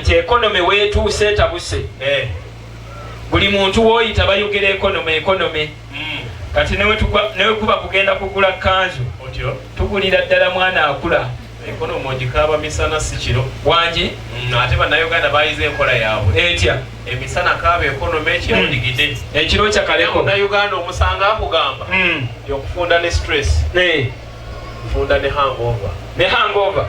nti ekonome wetuuse etabuse eh. buli muntu woyita bayogera ekonome ekonome mm. kati newekuba kugenda kugula kanzu tugulira ddala mwana akula ekonomi ogikaaba misana si kiro wangi mm, ate bannayuganda bayize enkola yaabwe etya emisana kaaba ekonomi ekiro mm. ndigide ekiro kyakaleko nayuganda omusanga akugamba mm. yokufunda ne stress nfunda ne hangova ne hangova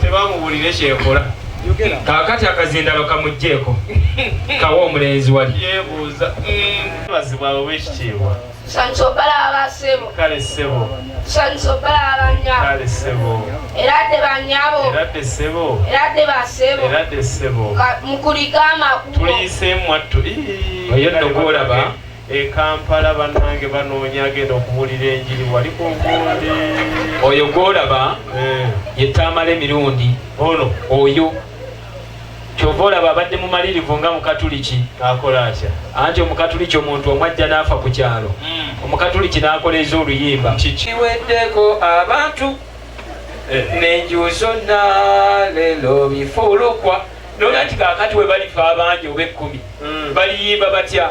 tebamuwulire kyekola kakati akazinda bakamugjeeko kawa omulenzi wali yebuuza mm. bazibwa abo bekitiibwa kale sebo sebo mukulike amakulu tuliyiseemu attu oyo nno gwolaba E Kampala banange banoonya agenda okubuulira enjiri wali ku nkundi. Oyo gwolaba eh. ye Tamale Mirundi ono oyo kyova olaba abadde mumalirivu nga mukatuliki akola atya anti omukatuliki omuntu omwajja n'afa ku kyalo hmm. omukatuliki n'akoleeza oluyimba kikiweddeko abantu eh. nenju zonna lelo bifulukwa nolati kakati we balifa abangi oba ekkumi hmm. baliyimba batya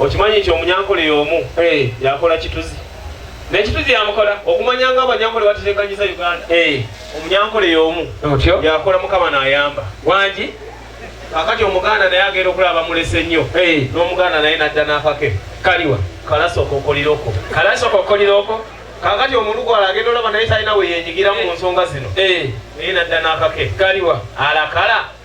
okimanyi nti omunyankole yomu hey. yakola kituzi nekituzi yamukola okumanya nga abanyankole batetekanyiza uganda hey. omunyankole yomu otyo yakola mukama nayamba wangi kakati omuganda naye agenda okulaba mulese nnyo hey. nomuganda naye nadda nakake kaliwa kalasokokoliroko kalasokokoliroko kakati omulugwala agenda olaba naye talina weyenyigiramu mu nsonga zino eh. naye nadda nakake kaliwa alakala